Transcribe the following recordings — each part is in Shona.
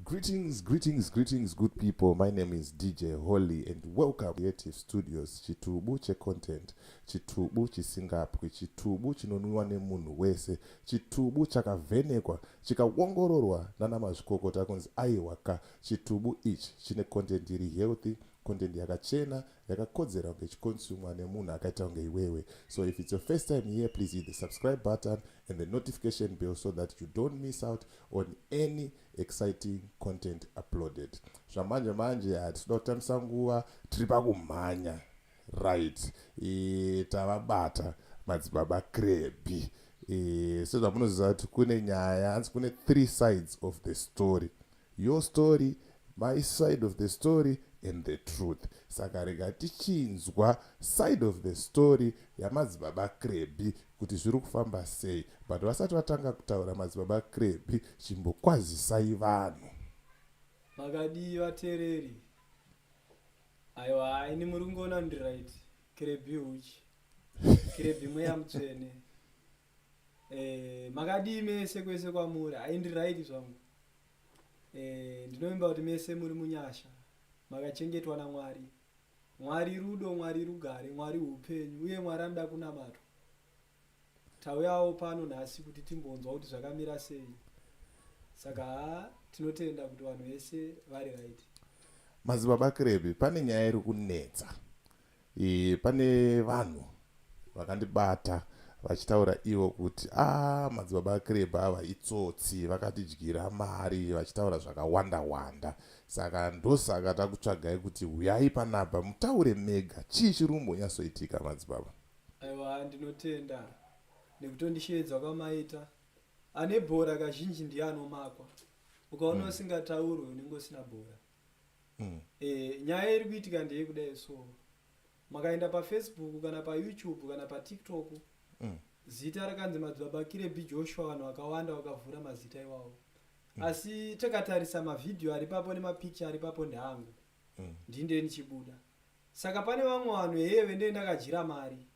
Greetings, greetings, greetings, good people. My name is DJ Holly, and welcome Creative Studios, chitubu checontent, chitubu chisingapwi, chitubu chinonwiwa nemunhu wese, chitubu chakavhenekwa, chikaongororwa nana mazvikokota kunzi aiwaka, chitubu ichi chine content iri healthy, content yakachena yakakodzera kunge ichikonsumwa nemunhu akaita kunge iwewe so if it's your first time here please hit the subscribe button and the notification bell so that you don't miss out on any exciting content uploaded zvamanje manje hatida kutambisa nguva tiri pakumhanya right e, tavabata madzibaba krebi e, sezvamunoziva kuti kune nyaya hanzi kune three sides of the story Your story, my side of the story and the truth. Saka rega tichinzwa side of the story yamadzibaba Krebhi kuti zviri kufamba sei. But vasati vatanga kutaura madzibaba Krebhi, chimbokwazisai vanhu. Makadii vatereri? Aiwa, ini muri kungoona ndiri right. Krebhi huchi. Krebhi mweya mutsvene. Eh, makadii mese kwese kwamuri haindiraiti zvangu eh, ndinovimba kuti mese muri munyasha makachengetwa namwari mwari rudo mwari rugare mwari upenyu uye mwari anoda kunamatwa tauyawo pano nhasi kuti timbonzwa kuti zvakamira sei saka ha tinotenda kuti vanhu vese vari right mazibaba krebi pane nyaya iri kunetsa E, pane vanhu vakandibata vachitaura ivo kuti a ah, madzibaba akireba ava itsotsi vakatidyira mari vachitaura zvakawanda wanda saka ndosaka takutsvagai kuti huyai panapa mutaure mega chii chiri kumbonyatsoitika madzibaba aiwa ndinotenda nekutondisheedzwa kwamaita ane bhora kazhinji ndiye anomakwa ukaona mm. usingataurwe unenge usina bhora mm. e, nyaya iri kuitika ndeyekudai so makaenda pafacebook kana payoutube kana patiktok mm. zita rakanzi madzibaba kirebi joshua vanhu vakawanda vakavhura mazita iwawo mm. asi takatarisa mavhidhiyo ari papo nemapicture ari papo ndeangu mm. ndinde ndichibuda saka pane vamwe vanhu heye vendee ndakadyira mari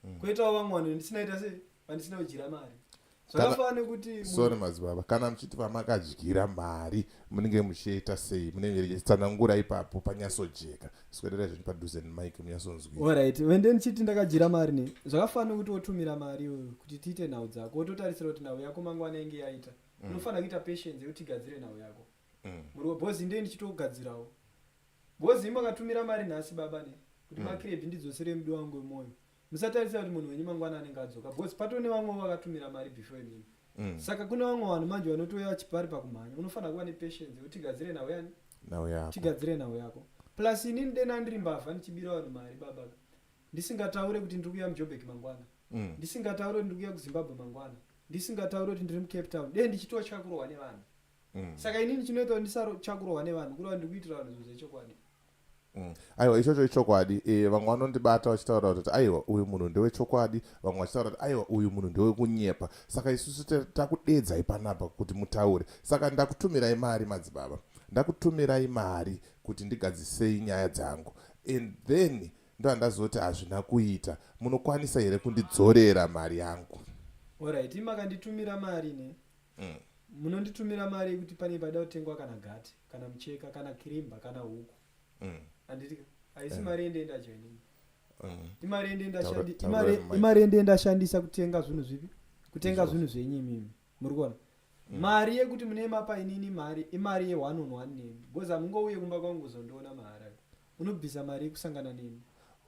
mm. koitawo vamwe vanhu ndisinaita se vandisina kudyira mari zvakafanana nekuti sorry madzibaba kana muchiti vamakadyira mari munenge muchiita sei munenge richitsanangura ipapo panyasojeka swererai zvinhu padhuze nemike munyasonzwira orit vende ndichiti ndakadyira mari ne zvakafanana nekuti wotumira mari iyoyo kuti tiite nhau dzako wototarisira kuti nhau yako mangwana inge yaita mm. unofanira kuita patience yekuti tigadzire nhau yako mm. muri wabhozi ndee ndichitogadzirawo bhozi imakatumira mari nhasi baba ne kuti mm. makiredi ndidzosere mudo wangu wemwoyo musatarisa kuti munhu wenyu mangwana anenge adzoka bhozi pato ne vamwe vakatumira mari before imimi mm. saka kune vamwe vanhu manje vanotouya vachipari pakumhanya unofanira kuva nepatience yekuti tigadzire nhau yani tigadzire nhau yako plus inini dena ndiri mbavha ndichibira vanhu mari baba ndisingataure kuti ndiri kuya mujobek mangwana mm. ndisingataure kuti ndiri kuya kuzimbabwe mangwana ndisingataure kuti ndiri mucape town dee ndichitotya kurwa nevanhu mm. saka inini chinoita ndisachakurohwa nevanhu kureva ndiri kuitira vanhu zvinhu zvechokwadi Mm. aiwa ichocho ichokwadi e, vamwe vanondibata vachitaura kuti aiwa uyu munhu ndewechokwadi vamwe vachitaura kuti aiwa uyu munhu ndewekunyepa saka isusu takudedzai panapa kuti mutaure saka ndakutumirai mari madzibaba ndakutumirai mari kuti ndigadzisei nyaya dzangu and then ndoandazoti hazvina kuita munokwanisa here kundidzorera mari yangu orit makanditumira mari ne mm. munonditumira mari yekuti pane paida kutengwa kana gati kana mucheka kana kirimba kana huku mm. anditi mm. haisi yeah. mari yende endacho inini mm. imari yende ndashandi imari yende ndashandisa kutenga zvinhu zvipi kutenga zvinhu zvenyu imimi muri kuona mm. mari yekuti mune mapa inini mari imari ye one on one nemi because hamungouye kumba kwangu kuzondiona mahara unobvisa mari yekusangana nemi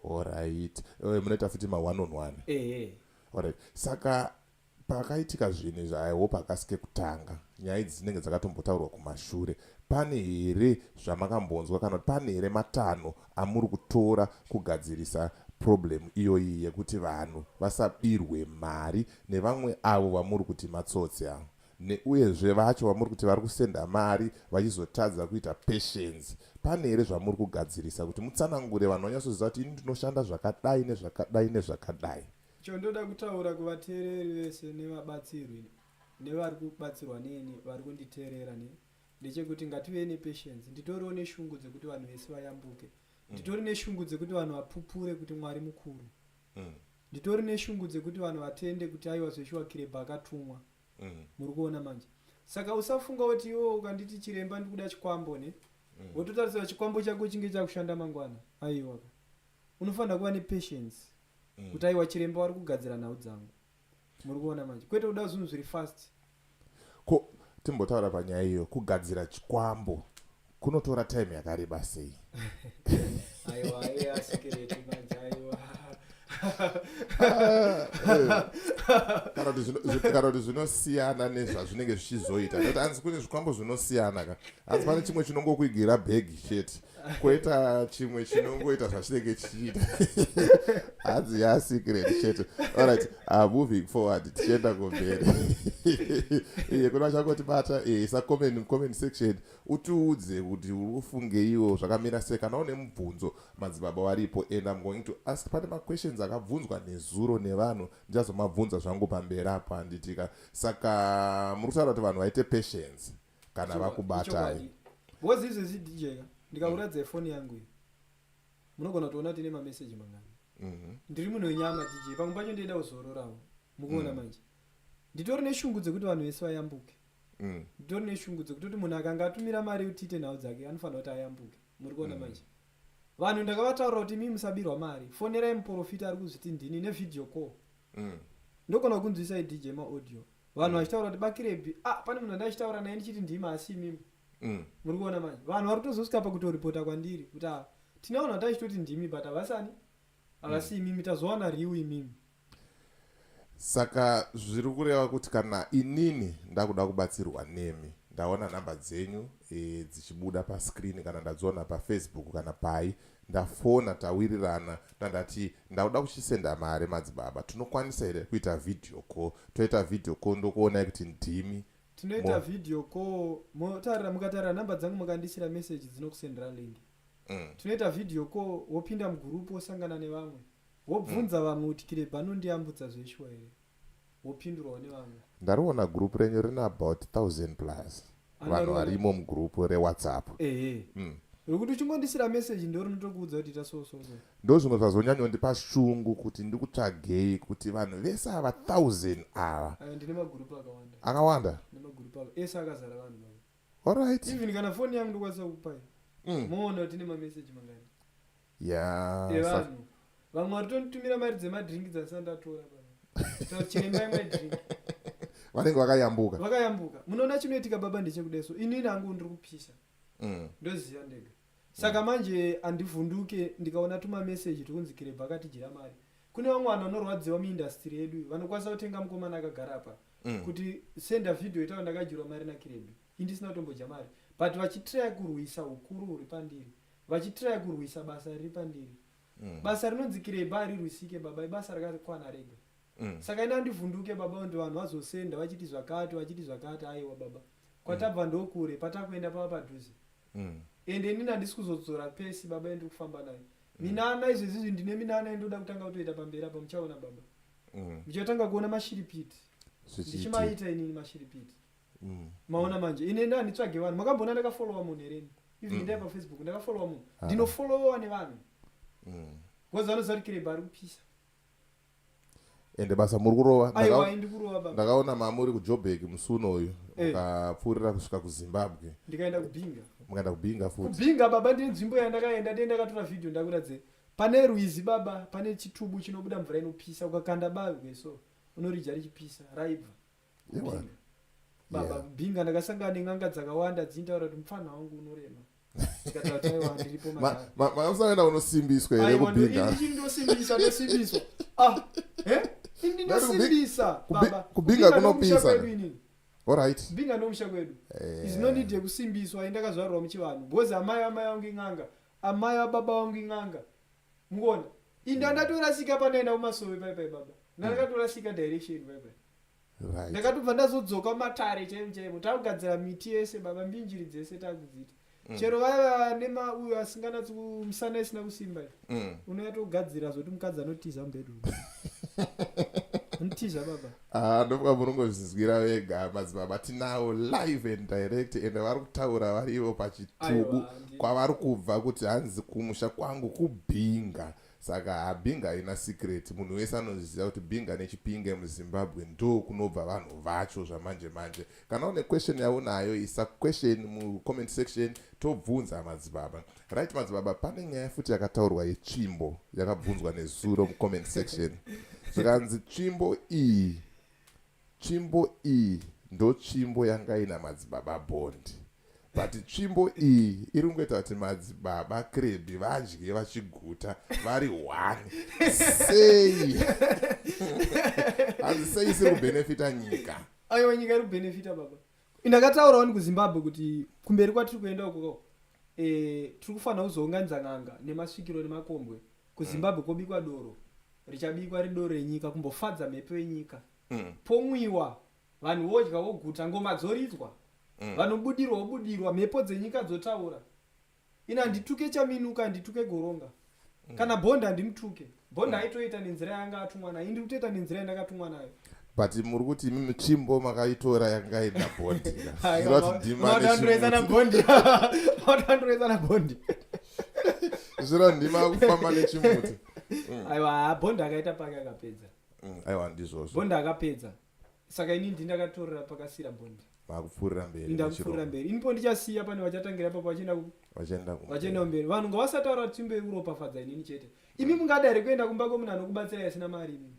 orit eh, munoita futi ma one on one ehe orit saka Pakaitika zvinhu izvi I hope hakasi kekutanga. Nyaya idzi dzinenge dzakatombotaurwa kumashure. Pane here zvamakambonzwa kana kuti pane here matanho amuri kutora kugadzirisa problem iyoyi yekuti vanhu vasabirwe mari nevamwe avo vamuri kuti matsotsi avo neuyezve vacho vamuri kuti vari kusenda mari vachizotadza kuita patience pane here zvamuri kugadzirisa kuti mutsanangure vanhu vanyatsoziva kuti ini ndinoshanda zvakadai nezvakadai nezvakadai Chondoda kutaura kuvateereri vese nevabatsirwi nevari kubatsirwa neni vari kunditeerera ne ndechekuti ngativei nepatience nditoriwo neshungu dzekuti vanhu vese vayambuke mm. nditori neshungu dzekuti vanhu vapupure kuti mwari mukuru mm. nditori neshungu dzekuti vanhu vatende kuti aiwa zveshuwa kirebha akatumwa mm. muri kuona manje saka usafunga kuti iwo ukanditi chiremba ndikuda chikwambo ne wototarisira chikwambo chako chinge chakushanda mangwana aiwaka unofanira kuva nepatience mm. kuti aiwa chiremba wari kugadzira nhau dzangu muri kuona manje kwete kuda zvinhu zviri fast ko timbotaura panyaya iyo kugadzira chikwambo kunotora time yakareba sei aiwa aiwa asikereti manje aiwa kana kuti zvinosiyana nezvazvinenge zvichizoita nekuti hanzi kune zvikwambo zvinosiyana ka hanzi pane chimwe chinongokuigira bhegi chete koita chimwe chinongoita zvachinenge chichiita hanzi yasecret chete allright ah, moving forward tichienda kumberi iye kuna chakotibata eh, isa comment mucomment section utiudze kuti uri kufungeiwo zvakamira sei kana une mubvunzo madzibaba waripo and im going to ask pane maquestions akabvunzwa nezuro nevanhu ndichazomabvunza zvangu pamberi apo handitika saka muri kutaura kuti vanhu vaite patience kana vakubatai bhozi izvezvi dj ka ndikakuratidza mm. foni yangu iyi munogona kutoona tine mameseji mangani mhm. ndiri munhu wenyama dj pamwe pacho ndoenda kuzororawo mukuona mm. manje nditori neshungu dzekuti vanhu vese vayambuke mm. nditori neshungu dzekutoti munhu akanga atumira mari utiite nhau dzake anofanira kuti ayambuke muri kuona manje vanhu ndakavataurira kuti mi musabirwa mari fonerai muprofita ari kuzviti ndini nevhideo call mm. ndogona kunzwisa idj maaudio vanhu mm. vachitaura kuti bakirebi ah, pane munhu andaichitaura naye ndichiti ndima asi imimi mm. muri kuona manje vanhu vari kutozosvika pakutoripota kwandiri kuti ah, tine vanhu vataichitoti ndimi but havasani havasi mm. imimi tazowana riu imimi saka zviri kureva kuti kana inini ndakuda kubatsirwa nemi ndaona nhamba dzenyu e, dzichibuda pascreen kana ndadziona pafacebook kana pai ndafona tawirirana ndandati ndauda kuchisenda mari madzibaba tinokwanisa here kuita video call toita video call ndokuonai kuti ndimi tinoita video call motarira mukatarira nhamba dzangu mukandiisira message dzinokusendera link mm. tinoita video call wopinda mugurupu wosangana nevamwe wobvunza mm. vamwe kuti kirebha anondiyambutsa zveshuwa here wopindurwa nevamwe ndariona group renyu rine about 1000 plus vanhu varimo mugroup rewhatsapp mm. rekuti uchingondisira message ndo rinotokuudza kuti ita so so so ndo zvimwe zvazonyanyondipa shungu kuti ndikutsvagei kuti vanhu vese ava 1000 ava eh, ndine magroup akawanda akawanda nemagroup ava ese akazara vanhu vavo allright even kana foni yangu ndokwanisa kukupai mm. moona kuti ne mameseji mangani Yeah. Sa- evanhu vamwe vari tonditumira mari dzemadrink dzandisati ndatora chirembai my drink Vanenge vakayambuka. vakayambuka munoona chinoitika baba ndechekudeso inini hangu ndiri kupisa Mm. ndoziva ndega saka manje handivhunduke ndikaona tumameseji tukunzi kirebha akatijira mari kune vamwe vanhu vanorwadziwa muindastiri yedu iyi, vanokwanisa kutenga mukomana akagara apa Mm. kuti senda vhidhiyo itawa ndakadyirwa mari nakirebha Ini ndisina kutombodya mari but vachitry kurwisa ukuru huri pandiri vachitry kurwisa basa riri pandiri mm. basa rinonzi kireba harirwisike baba ibasa rakakwana rega mm. saka ini andivhunduke baba ndi vanhu vazosenda vachiti zvakati vachiti zvakati aiwa baba kwatabva mm. ndokure patakuenda pava padhuze mm. ende inini handisi kuzodzora pesi baba endiri kufamba nayo mm. minana izvezizvi ndine minana indoda kutanga kutoita pamberi apa muchaona baba mm. muchatanga kuona mashiripiti ndichimaita inini mashiripiti mm. maona manje ine nda nditsvage vanhu makambona ndakafollowa munhu here even mm. ndai pafacebook ndakafollowa munhu ah. ndinofollowa nevanhu mm. bcause vanoziva kuti kireba ari kupisa ende basa muri kurova ndakaona mamuri kujobek musi uno uyu eh. mukapfuurira kusvika kuzimbabwe ndikaenda kubinga mukaenda kubinga futi kubinga baba ndine nzvimbo yandakaenda ndiye ndakatora vhidhio ndakuratidze pane rwizi baba pane chitubu chinobuda mvura inopisa ukakanda bavhe so unorija richipisa raibva baba binga ndakasangana nen'anga dzakawanda dzintaura kuti mupfanha wangu unorema mausangana unosimbiswa here kubingainosimbisa ndosimbiswa ah, eh? ndinosimbisa kubinga kunopisa orit binga ndomusha kwedu eh. is no need yekusimbiswa indakazvarwa muchivanhu bcause amai amai vangu in'anga amai ababa vangu in'anga mukuona inda ndatorasika panoenda kumasove paipai baba ndandakatorasika direction paipai right. ndakatobva ndazodzoka matare chaimo chaimo takugadzira miti yese baba mbinjiri dzese takudzita mm. chero vaiva nemauyo asinganatsi kumusana isina kusimba mm. unoyatogadzira zvoti mukadzi anotiza mubedroom anotiza baba ah, ndofuka munongozvizwira vega madzibaba tinawo live and direct ende vari kutaura vari ivo pachitubu kwavari kubva kuti hanzi kumusha kwangu kubhinga Aywa, Saka habinga haina secret munhu wese anozviziva kuti binga nechipinge muzimbabwe ndo kunobva vanhu vacho zvamanje manje kana une question yaunayo isa question mucomment section tobvunza madzibaba right madzibaba pane nyaya futi yakataurwa yetsvimbo yakabvunzwa nezuro mucomment section zvikanzi tsvimbo iyi Tsvimbo iyi ndotsvimbo yanga ina madzibaba Bond but tsvimbo iyi iri kungoita kuti madzibaba Krebi vadye vachiguta vari one sei hanzi sei isiri kubenefita nyika aiwa nyika iri kubenefita baba ndakataurawo ni kuzimbabwe kuti kumberi kwatiri kuenda uko eh, tiri kufanira kuzounganidza n'anga nemasvikiro nemakombwe kuzimbabwe kobikwa doro richabikwa ridoro renyika kumbofadza mhepo yenyika Mm. pomwiwa vanhu vodya voguta ngoma dzoridzwa Mm. vanobudirwa vobudirwa mhepo dzenyika dzotaura ini handituke chaminuka handituke goronga mm. kana bond handimutuke bond mm. aitoita nenzira yanga atumwa nayo ndiri kutoita nenzira yandakatumwa nayo but muri kuti imimi tsvimbo makaitora yanga ina bondi zviratidimaadandoezana bondi adandoezana bondi zvira ndima akufamba nechimuti mm. aiwa bondi akaita pake akapedza mm, aiwa ndizvozvo bondi akapedza saka ini ndi ndakatorera pakasira bond vakupfuurira mberi ndakupfuurira mberi inipo ndichasiya pane vachatangira papo vachienda vachienda vachienda mberi vanhu ngavasataura kuti timbe uropafadza inini chete imi mungada here kuenda kumba kwemunhu anokubatsira asina mari imi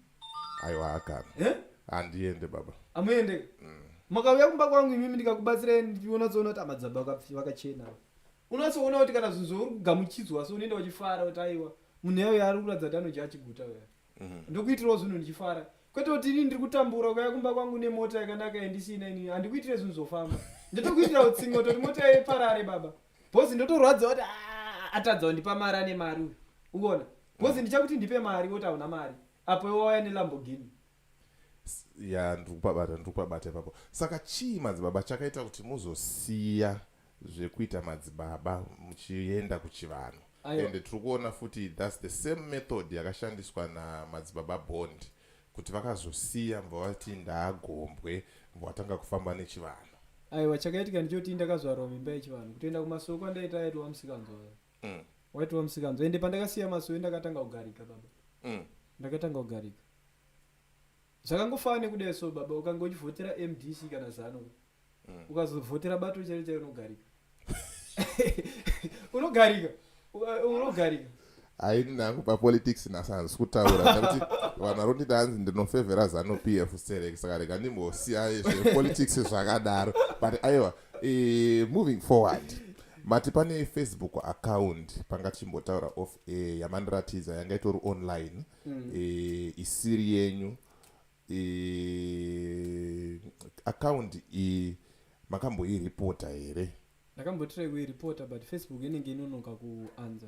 aiwa hakana eh? handiende baba amuende mm. makauya kumba kwangu imimi ndikakubatsira ndionatsoona kuti amadzaba vakachena unatsoona kuti kana zvinhu zvauri kugamuchidzwa so unoenda wachifara kuti aiwa munhu yayo yaari kuratidza kuti anodya achiguta uya mhm. ndokuitirawo zvinhu ndichifara kwete kuti ini ndiri kutambura ukaya kumba kwangu nemota yakanaka yandisina ini handikuitire zvinhu zvofamba ndotokuitira utsingo toti mota yeparare baba bhozi ndotorwadza kuti ah, atadza kundipa mari ane mari uyu uona bhozi ndichakuti ndipe mari woti hauna mari apo iwauya nelambogini ya ndiri kubabata ndiri kubabata ipapo saka chii madzibaba chakaita kuti muzosiya zvekuita madzibaba muchienda kuchivanhu and tiri kuona futi thats the same method yakashandiswa namadzibaba bond kuti vakazosiya mva vati ndaagombwe mva vatanga kufamba nechivanhu aiwa chakaitika ndichoti ndakazvarwa mimba yechivanhu kutoenda kumasoko andaita aitova musikanzwa mm. waitova musikanzwa ende pandakasiya masowe ndakatanga kugarika baba mm. ndakatanga kugarika Zvakangofanana nekudai so baba ukanga uchivhotera MDC kana zano mm. ukazovhotera bato chairo chairo unogarika. unogarika. Unogarika. Aini nangu pa politics na sans kutaura kuti vanhu varoti danzi ndinofevera zano PF select saka rega ndimbosiya izve politics zvakadaro but aiwa eh, moving forward mati pane facebook account panga chimbotaura off eh, yamandiratidza yanga itori online mm. e, isiri yenyu e, account iyi makamboiripota here ndakambotirai kuiripota but facebook inenge inonoka kuanza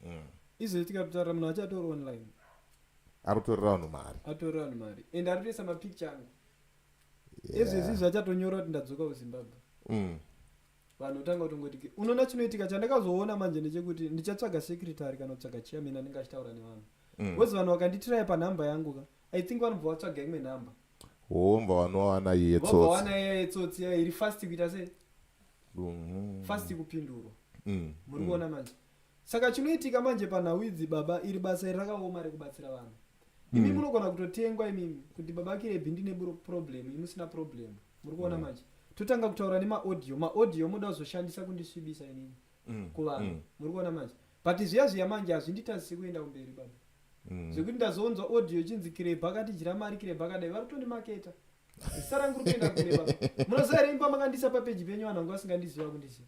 mm. izvezvi tikatotaura munhu achatori online arutorera vanhu mari atorera vanhu mari and aritoisa mapicture angu ezvezvi zvachatonyora kuti ndadzoka kuzimbabwe mm. vanhu otanga kutongoti ke unoona chinoitika chandakazoona manje ndechekuti ndichatsvaga secretary kana kutsvaga chairman anenge achitaura nevanhu Mm. bcause vanhu vakanditiraya panhamba yangu ka i think vanobva vatsvaga imwe nhamba womva wanowana iye vobva tsotsi wana iya yetsotsi iya iri fast kuita sei Mhm. fast kupindurwa Mm. muri kuona manje saka chinoitika manje panhau idzi baba iri basa iri rakaoma rekubatsira vanhu imi munogona kutotengwa imimi kuti baba kirebi ndine problem imusina problem muri kuona mm. manje totanga kutaura nemaaudio maaudio moda kuzoshandisa kundisvibisa inini mm. kuvanhu mm. muri kuona manje but zviya zviya manje hazvinditazisi kuenda kumberi baba zvekuti ndazonzwa audio chinzi kirebi akatijira mari kirebi akadai vari kutondimaketa zita rangu rikuenda kure baba munoziva reimba makandisa papeji penyu vanhu vangu vasingandiziva kundiziva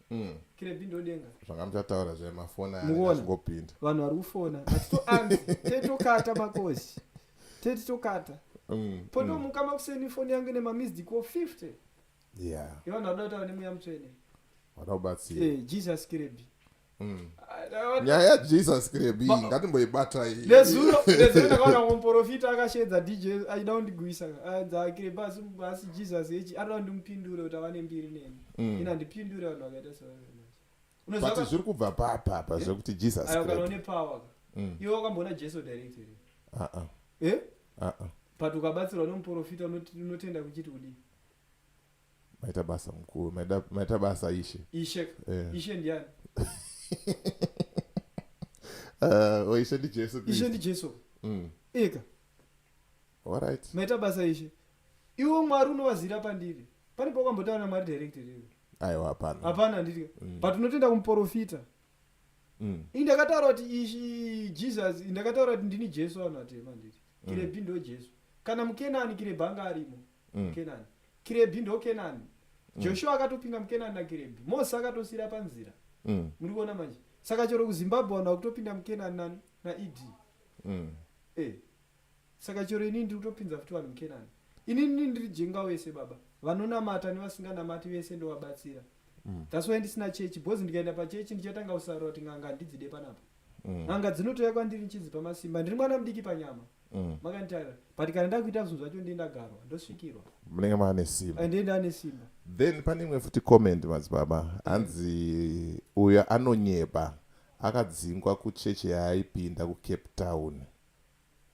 mm. kirebi ndodenga zvanga muchataura zvemafoni aingopinda vanhu vari kufona atitoanzi tetokata makoshi tetitokata mm, potomuka mm. makuseni foni yange nemamisdiko 50 yeah. yevanhu vanoda kutaura nemweya mutsvene vada kubatsira eh, jesus kirebi mm. ah, nyaya yajesus kirebi ngatimboibatai nezuro nezuro ndakaona komporofita akasheedza dj aida kundigwisa anza ah, kirebi asi jesus echi anoda kundimupindure kuti ava nembiri neni mm. ina ndipindure vanhu vakaita sevaati zviri kubva papa apa zvekuti jesus kana une power mm. iwe wakamboona jesu direct here uh-uh. eh? uh-uh. but ukabatsirwa nomuprofita unotenda kuchiti kudii maita basa mukuru maita basa ishe ishe yeah. ishe ndiani uh, oh, ishe ndijesu ishe ndijesu mm. eka Alright. Maita basa ishe. Iwo Mwari unovazira pandiri. Pane pawakambotaura naMwari direct here? Aiwa hapana. Hapana handiti. Mm. But unotenda kumuporofita. Mm. Indakataura kuti ishi Jesus, indakataura kuti ndini Jesu vanhu vatema handiti. Mm. Kirebi ndo Jesu. Kana muKenani Kirebi anga arimo. Mm. Kenani. Kirebi ndo Kenani. Mm. Joshua akatopinda muKenani naKirebi. Moses akatosira panzira. Mm. Muri kuona manje. Saka chero kuZimbabwe vanhu vakutopinda muKenani nani naED. mm. hey. Eh, saka chero inini ndiri kutopinza futi vanhu mukenani inini ndiri jenga wese baba vanonamata nevasinganamati vese ndovabatsira mm. thats why ndisina chechi bcause ndikaenda pachechi ndichatanga kusarura kuti n'anga handidzide panapa mm. n'anga dzinotouya kwandiri nchinzi pamasimba ndiri mwana mudiki panyama mm. makanditarira but kana ndakuita zvinhu zvacho ndiye ndagarwa ndosvikirwa munenge maane simba ndiye ndaane simba then pane imwe futi comment madzibaba hanzi uyo anonyepa Akadzingwa kuchechi yaaipinda kuCape Town.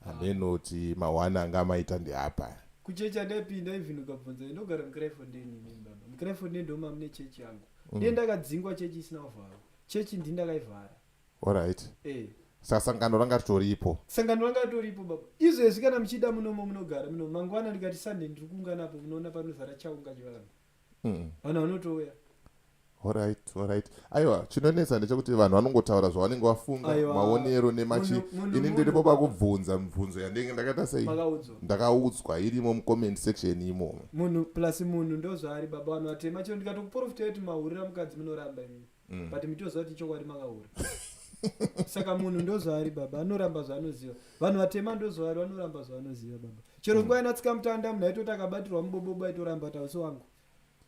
Handenoti ma one anga amaita ndeapa. Kuchechi yandaipinda even ukabvunza ndinogara muCrefondale ini baba. MuCrefondale ndoma mune chechi yangu. Ndiye ndakadzingwa chechi isina kuvharwa. Chechi ndini ndakaivhara. Alright. Eh. Saka sangano ranga ritoripo. Sangano ranga ritoripo baba. Izvezvi kana muchida munomo munogara munomo. Mangwana ndikati Sunday ndiri kuungana apo munoona panozara chaunga chivanhu. mm. vanhu vanotouya Alright, alright. Aiwa, chinonetsa ndechekuti vanhu vanongotaura zvavanenge vafunga maonero nemachi ini ndiripo pakubvunza mibvunzo yandenge ndakaita sei ndakaudzwa irimo mucomment section imomo munhu plus munhu ndozvaari baba vanhu vatema chero ndikatokuporofita kuti mahurira mukadzi munoramba imimi mm. but mitoziva kuti chokwadi makahura saka munhu ndozvaari baba anoramba zvaanoziva vanhu vatema ndozvaari vanoramba zvaanoziva baba chero nguva mm. inatsika mutanda munhu aitoti akabatirwa mubobobo aitoramba tausi wangu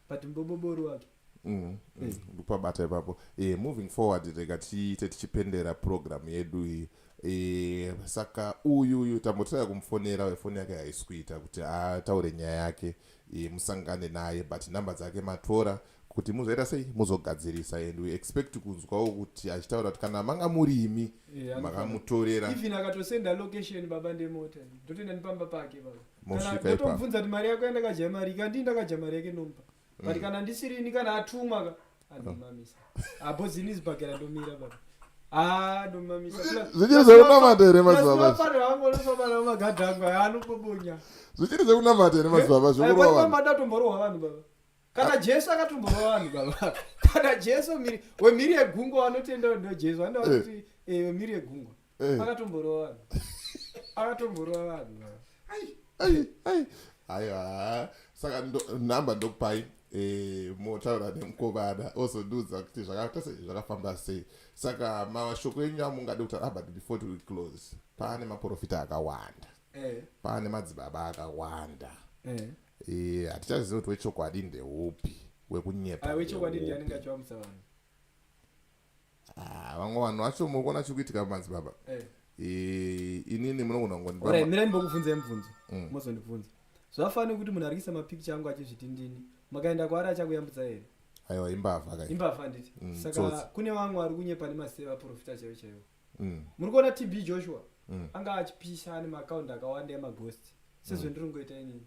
but mubobobo uri wake mm, mm. Eh. ndopabata ipapo eh, moving forward rega tiite tichipendera program yedu iyi e, saka uyu uyu tambotiraya kumufonera wefoni yake haisikuita kuti ataure nyaya yake e, musangane naye but number dzake matora kuti muzoita sei muzogadzirisa and we expect kunzwawo kuti achitaura kuti kana manga muri imi yeah, makamutorera even akatosenda location baba ndemota ndotoenda nepamba pake baba mosvikaotobvunza kuti mari yako yandakadya mari ikandii ndakadya mari yake nomba but mm. kana ndisirini kana atumwa ka anomamisa apo zini zibhakera ndomira baba Ah, zvichiri zvekunamata here madzibaba zvichiri zvekunamata here madzibaba eh, zvekurova vanhu baba kana jesu akatomborova vanhu baba kana jesu wemhiri yegungwa vanotenda ndo jesu vanoda kuti eh. eh, wemhiri yegungwa Eh. Akatomborova vanhu. Akatomborova vanhu. Ai, ai, ai. Aiwa. Saka ndo, number ndokupai eh, motaura nemukomana ozondiudza kuti zvakaita sei zvakafamba sei saka mashoko enyu amungade kutaura ah, but before to close paane maprofita akawanda eh. paane madzibaba akawanda eh. eh, hatichazivi eh. kuti wechokwadi ndeupi wekunyepa ah, wechokwadi ndiani ngachivamusa vanhu Ah, vamwe vanhu vacho muri kuona chiri kuitika pamadzibaba eh. eh, inini munogona kungondimirani mbokubvunzai mubvunzo mm. mozondibvunza zvafanira kuti munhu arikisa mapikicha angu achizviti ndini makaenda kwaari achakuyambutsa here aiwa imbavha ka imbavha handiti mm, saka kune vamwe vari kunyepa nemaseva profita chaivo chaivo mm. muri kuona tb joshua anga achipisa ane maakaundi akawanda emaghost sezvendiri kungoita inini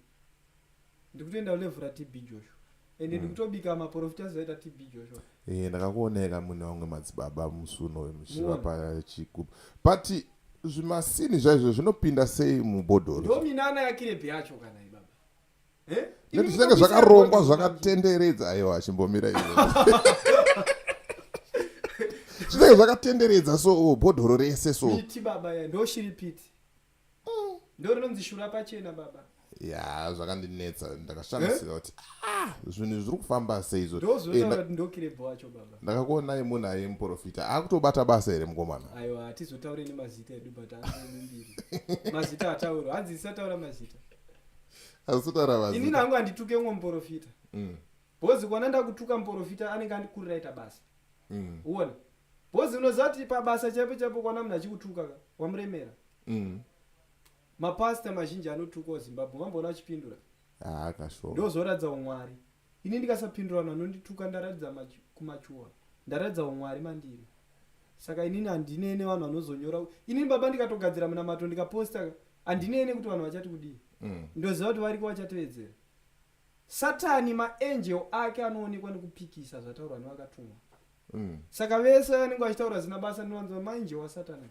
ndikutenda ulevhura tb joshua and mm. ndikutobika maporofita azoita tb joshua e, ndakakuoneka mune vamwe madzibaba musi uno vemuchiva pachikuba but zvimasini zvaizvo zvinopinda sei mubhodhoro ndominana yakirepi yacho kana ibaba eh? nekuti zvinenge zvakarongwa zvakatenderedza aiwa achimbomira ivo zvinenge zvakatenderedza so oh, bhodhoro rese so piti baba ya ndoshiri piti ndorinonzi shura pachena baba ya zvakandinetsa ndakashamisira kuti ah, zvinhu zviri kufamba sei izvo ndakakuonai munhu aye muprofita akutobata basa here mukomana aiwa hatizotaure nemazita edu but aambiri mazita atauro hanzi isataura mazita azotaura mazita ini nangu handituke umwe muprofita mm. Bozi kwana ndakutuka muporofita anenge andikurira ita basa. Mm. Uone. Bozi unoziva kuti pabasa chaipo chaipo kwana munhu achikutuka ka wamuremera. Mm. Mapastor mazhinji anotukawo Zimbabwe vamboona vachipindura. Ah, kashoma. Ndozoratidza umwari. Ini ndikasapindura vanhu vanondituka ndaratidza machu- kumachuwa. Ndaratidza umwari mandiri. Saka inini handine ne vanhu vanozonyora. Inini baba ndikatogadzira munamato ndikaposta ka, handine ne kuti vanhu vachati kudii. Mm. Ndoziva kuti variko vachatevedzera. Satani maangel ake anoonekwa nekupikisa zvataurwa nevakatumwa mm. saka vese vanenge vachitaura zina basa ndinowanzwa maangel wasatani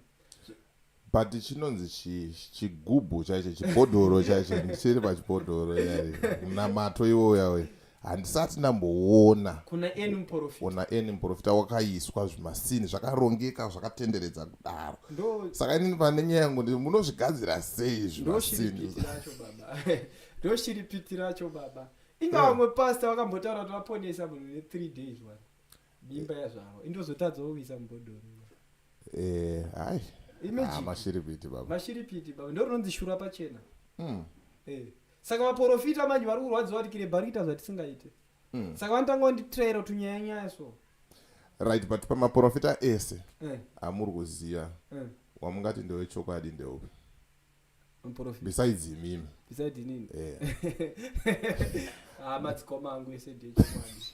but chinonzi chigubhu chaicho chibhodhoro chaicho ndichiri pachibhodhoro yari munamato iwoya uya handisati ndamboona kuna eni muporofita ona eni muporofita wakaiswa zvimasini zvakarongeka zvakatenderedza kudaro saka inini pane nyaya yangu ndii munozvigadzira sei zvimasini ndoshiripiti racho baba inga vamwe yeah. pasta vakambotaura kuti vaponesa munhu ne three days one mimba yazvaro indozotadza woviisa mubhodhoro eh, hai ah, mashiripiti baba mashiripiti baba ndo rinonzi shura pachena mm. eh. saka vaporofita manje vari kurwadziwa kuti kirebha rikuita zvatisingaite mm. saka vanotanga vanditraira tunyaya nyaya so right but pamaporofita ese eh. amuri kuziva eh. wamungati ndewechokwadi ndeupi muprofit besides imimi besides nini eh ah matsikoma angu ese ndechokwadi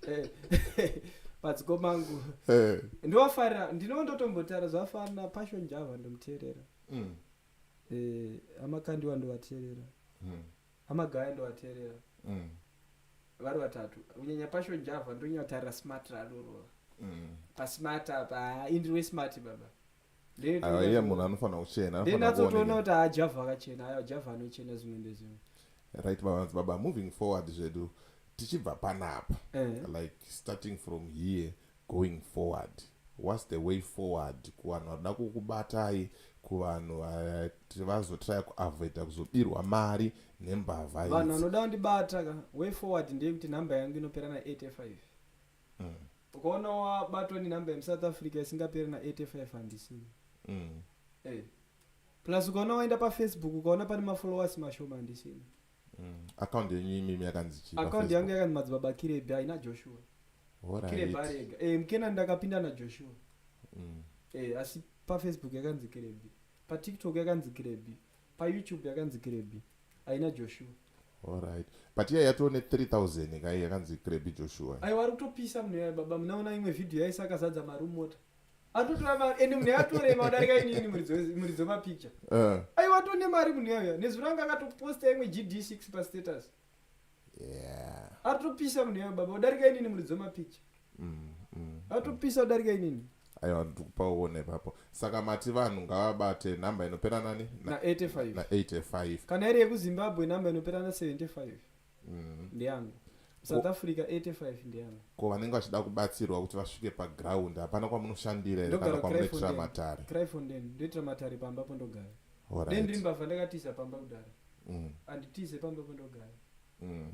eh matsikoma angu eh ndowafarira ndinova ndotombotara zvafanira passion java ndomuteerera mm. eh amakandiwa ndovateerera Mm. amagaya ndovateerera Mm. vari vatatu kunyanya passion java ndonyatarira smart rarorora Mm. pasmart apa ah, indiri wesmart baba Ah, iye munhu anofanira kuchena anofanira ndinatsotoona kuoneka. kuti haajavha akachena aya javha anochena zvimwe ndezvimwe right babanzi baba moving forward zvedu tichibva panapa Eh. like starting from here going forward whats the way forward kuvanhu vanoda kukubatai kuvanhu vati vazotraya kuavoida kuzobirwa mari nembavha vanhu idzi. vanoda kundibata ka way forward ndeyekuti nhamba yangu inopera na 85 mm. ukaona wabatwa nenumber yemusouth africa isingaperi na85 handisiyo mm. hey. Eh. plus ukaona waenda pafacebook ukaona pane mafollowers mashoma handisina mm. account yenyu imimi yakanzi chii account yangu yakanzi madzibaba kirebi haina joshua right. kirebi arega hey, eh, mkena ndakapinda najoshua mm. hey, eh, asi pafacebook yakanzi kirebi patiktok yakanzi kirebi payoutube yakanzi kirebi haina joshua Alright. But iya yatone 3000 kai yakanzi Krebi Joshua. Ayi wari kutopisa munhu yaye baba munaona imwe video yaisa akazadza mari mota. Atotora mari ende munhu yatore madarika inini muridzo muridzo ma picture. Uh. Eh. Ayi watone mari munhu yaye nezwi ranga akatoposta imwe GD6 pa status. yeah. atopisa munhu yavo baba udarika inini muri dzomapicha mm, mm, atopisa mm. udarika inini aiwa ndikupa uone ipapo saka mati vanhu ngavabate nhamba inopera nani na 85 na 85 kana iri yekuzimbabwe nhamba inopera na 75 mm. ndiyangu south africa 85 ndiyangu ko vanenge vachida kubatsirwa kuti vasvike paground hapana kwamunoshandira here kana kwamunoitira matare cryfonden ndoitira matare pamba po ndogara then ndiri mbavha ndakatiza pamba kudara mm. anditize pamba pandogara mm.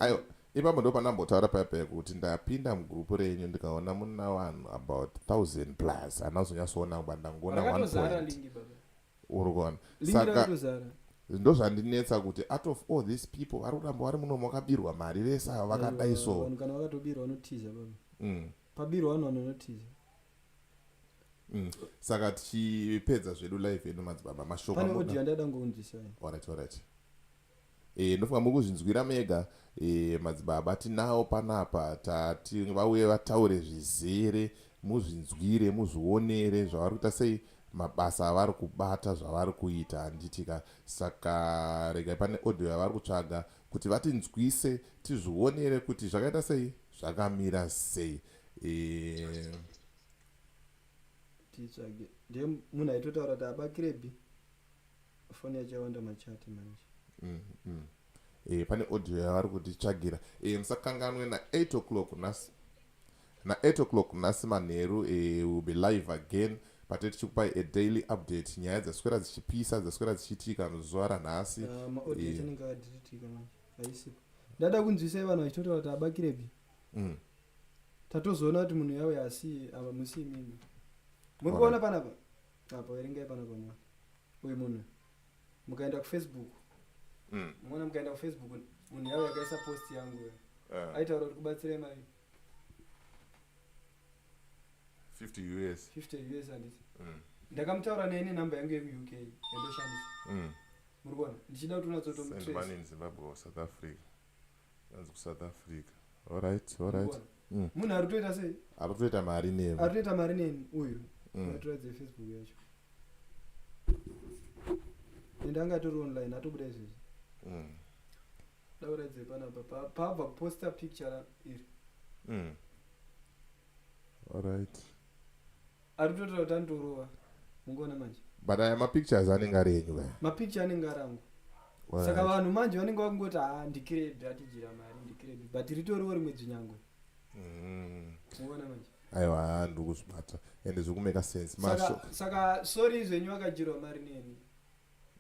ayo ipapo ndo pandambotaura paya paya kuti ndapinda mugroup renyu ndikaona muna vanhu about thousand plus anazonyatsoona kuba ndangoona one point uri kuona saka ndozvandinetsa kuti out of all these people vari kuramba vari muno makabirwa mari vese ava vakadai so kana vakatobirwa vanotiza baba mm. pabirwa vanhu vanonotiza Mm. saka tichipedza zvedu live yedu madzibaba mashoko e, ndofunga muri kuzvinzwira mega e, madzibaba tinawo panapa tati vauye vataure zvizere muzvinzwire muzvionere zvavari kuita sei mabasa avari kubata zvavari kuita handitika saka regai pane audio yavari kutsvaga kuti vatinzwise tizvionere kuti zvakaita sei zvakamira sei eh. titsvage nde munhu aitotaura kuti abakirebi foni yacho yawanda machati manje mm, mm. Eh, pane audio yavari kutitsvagira eh, musakanganwe na8 o'clock nhasi na8 o'clock nhasi manheru eh, will be live again pate tichikupai a daily update nyaya dzaswera dzichipisa dzaswera dzichiitika muzuva ranhasi ah, eh. ndada kunzwisai vanhu vachitotaura kuti abakirebi mm. tatozoona kuti munhu yawe asi ava musi imimi muri kuona panapa apa verengai panapa mwa uyu munhu mukaenda kufacebook mm. muona mukaenda kufacebook munhu yawe yakaisa post yangu yo uh. aitaura kuti kubatsirei mai 50 us 50 us anditi mm. ndakamutaura naye nenumber yangu yekuuk yandoshandisa mm. muri kuona ndichida kuti unatsotomutrace zimbabwe or south africa Anzi kuSouth Africa. Alright, alright. Mm. Munhu ari kutoita sei? Ari kutoita mari nemi. Ari kutoita mari nemi uyu. Mm. Ngatiratidze Facebook yacho. Ende anga atori online atobuda izvezvi. Mm. Dauradze panapa pa paabva kuposta picture iri. Mm. Alright. Ari kutotaura kuti andorova. Mungoona manje. But aya mapictures anenge ari enyu kaya. Mapicture anenge ari angu. Right. Saka vanhu manje vanenge vakungoti ha ah, ndikirebi atijira mari ndikirebi but ritoriwo rimwe dzinyangwe. Mm. Mungoona manje. Aiwa ndiri kuzvibata and zviri kumeka sense. Masho. Saka, saka sorry zvenyu akajirwa mari neni.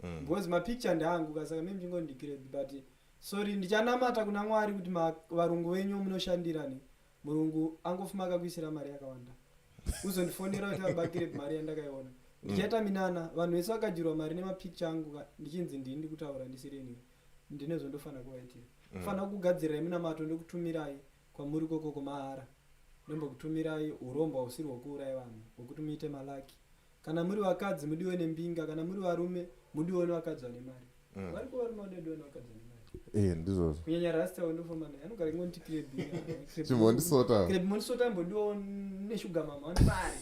Mm. Because mapicture ndeangu ka saka mimi chingondikirebi but sorry ndichanamata kuna Mwari kuti varungu venyu munoshandirani. murungu angofuma akakuisira mari yakawanda uzondifonera kuti abakire mari yandakaiona ndichaita minana vanhu vese vakadyirwa mari nemapicture angu ka- ndichinzi ndini ndikutaura ndisirini ndine zvondofanira kuvaitira fanira kugadzirai minamato ndokutumirai kwamuri kokoko mahara ndombokutumirai urombo husiri hwokuuraya vanhu hwokuti muite malaki kana muri vakadzi mudiwe nembinga kana muri varume mudiwe nevakadzi vane mari mm. variko varume vanodiwa nevakadzi vane mari eh, ndizvozvo kunyanya rasta wendofamana anogara ingonditi krebimondisota krebimondisota mbodiwa neshuga mama vane mari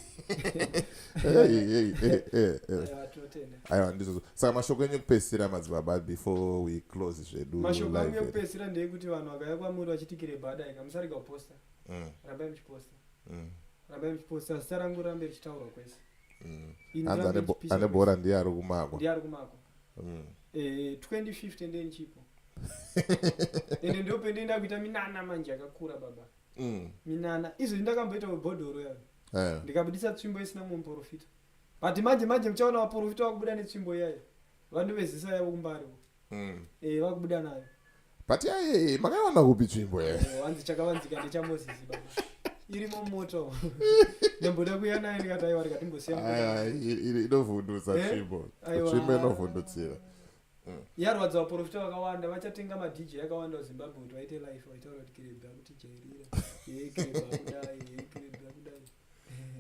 aiwa ndizvozvo saka mashoko enyu ekupedzisira madzibaba before we close zvedu mashoko enyu ekupedzisira ndeekuti vanhu vakauya kwamuri vachiti kirebha adaika musarega kuposta mm. rambai muchiposta mm. rambai muchiposta zita rangu rambe richitaurwa kwese mm. hanzi ane bhora ndiye ari kumako ndiye ari kumako 2050 ndiye ndichipo ende ndo pendienda kuita minana manje akakura baba mm. minana izvo ndakamboita mubhodhoro yavo eh. ndikabudisa tsvimbo isina mumwe muporofita but manje manje muchaona vaporofita vakubuda netsvimbo iyayo vandu vezisa yavo kumbarivo mm. eh, vakubuda nayo but yaye makaiwana kupi tsvimbo eh? wanzi chakavanzika ndechamozisi irimo moto ndamboda kuya naye ndikati aiwa ndikatimbosiya inovhundutsa eh? tsvimbo tsvimbo inovhundutsira mm. yarwadza vaprofita vakawanda vachatenga madj akawanda kuzimbabwe kuti vaite life vaitaura kuti kirebha kuti jairira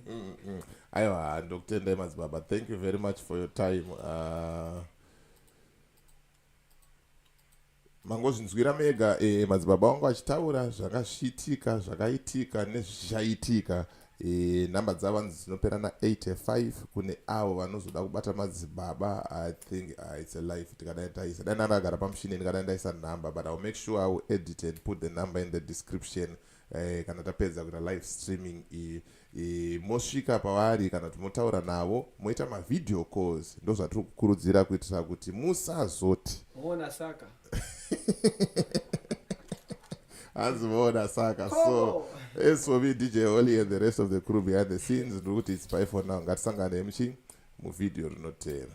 mm, mm. aiwa ndokutendai madzibaba thank you very much for your time uh, mangozvinzwira mega e, madzibaba vangu vachitaura zvakasviitika zvakaitika nezvichaitika e, eh, nhamba dzavanzi dzinopera na85 kune avo vanozoda kubata madzibaba i think uh, its a life tikadai taisa dai nandagara pamushini ndikadai ndaisa nhamba but iwill make sure iwill edit and put the number in the description uh, eh, kana tapedza kuita live streaming iyi eh, mosvika pavari kana kuti motaura navo moita mavideo calls ndo zvatiri kukurudzira kuitira kuti musazoti moona saka hanzi moona saka so as for me dj holy and the rest of the crew behind the scenes ndiri kuti its by for now ngatisangane mchi muvideo rinotera